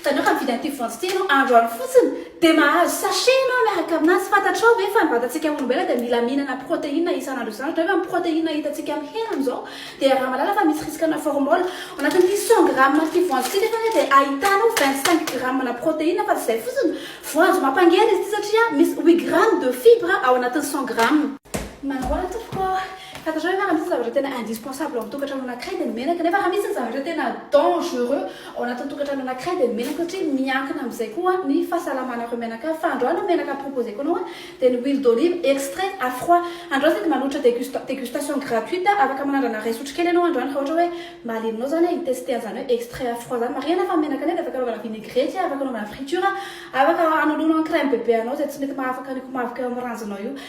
Itanao fa mividy an'ity voanjo ity ianao androany fotsiny dia mahazo sachet ianao miaraka aminazy, fantatrao ve fa ny vatantsika olombelona dia mila mihinana protéine isan'andro isan'andro, itanao ve fa ny protéine hitantsika amin'ny heriny izao dia raha malala fa misy risque-na formol ao anatin'ity cent grammes an'ity voanjo ity nefa anie dia ahitanao vingt cinq grammes-na protéine fa tsy izay fotsiny, voanjo mampangery izy ity satria misy huit grammes de fibres ao anatin'ny cent grammes. Manahoana tompoko ô! Fantatrareo ve raha misy zavatra tena indispensable ao amin'ny tokantrano anankiray dia ny menaka nefa raha misy ny zavatra tena dangereux ao anatin'ny tokantrano anankiray dia ny menaka satria miankina amin'izay koa ny fahasalamanareo mianakavy fa androany ny menaka proposeko anao dia ny huile d'olive extrait à froid androany izay dia manolotra degust degustation gratuite afaka manandrana iray sotro kely ianao androany raha ohatra hoe mahalianao izany hoe hitester an'izany hoe extrait à froid izany marihina fa ny menaka nefa dia afaka anaovana vinaigrette afaka anaovana friture afaka hanoloana en crème bebe anao izay tsy mety mahafaka ny komavoka eo amin'ny ranjonao io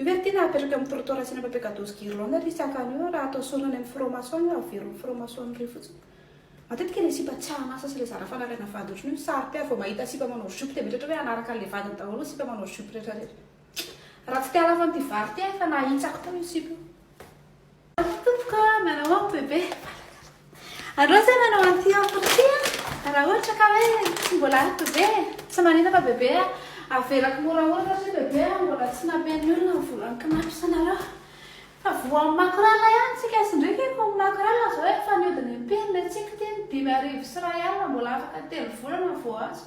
Io ve ry Tiana apetraka amin'ny trottoir asiana papier gadozy guirlande ilay izy tahaka an'io raha atao sorona any amin'ny franc-maçon io averin'ny franc-maçon iray fotsiny. Matetika ilay sipa tsy an'asa sy ilay zara fanariana vady ohatran'io no saro-piaro vao mahita sipa manao jupe dia mieritreritra hoe hanaraka an'ilay vadiny daholo ny sipa manao jupe rehetrarehetra. Raha tsy te-halafo an'ity vary ity aho efa nahitsako teo io sipa io. Avy tompoko a, miarahaba aho bebe. Aleo zay manao an'ity offre ity a, raha ohatra ka hoe tsy mbola ampy be e. Tsy maninona fa bebe a, avelako moramora satria bebe a, mbola tsy nampian'ny olona ny volan'ny kinapisanareo. Fa voan'ny makorala ihany tsika sy ndry kay koa ny makorala zao efa nihodina impiry le tsiko ty, dimy arivo sy iray alina mbola afaka telo volana vao azo.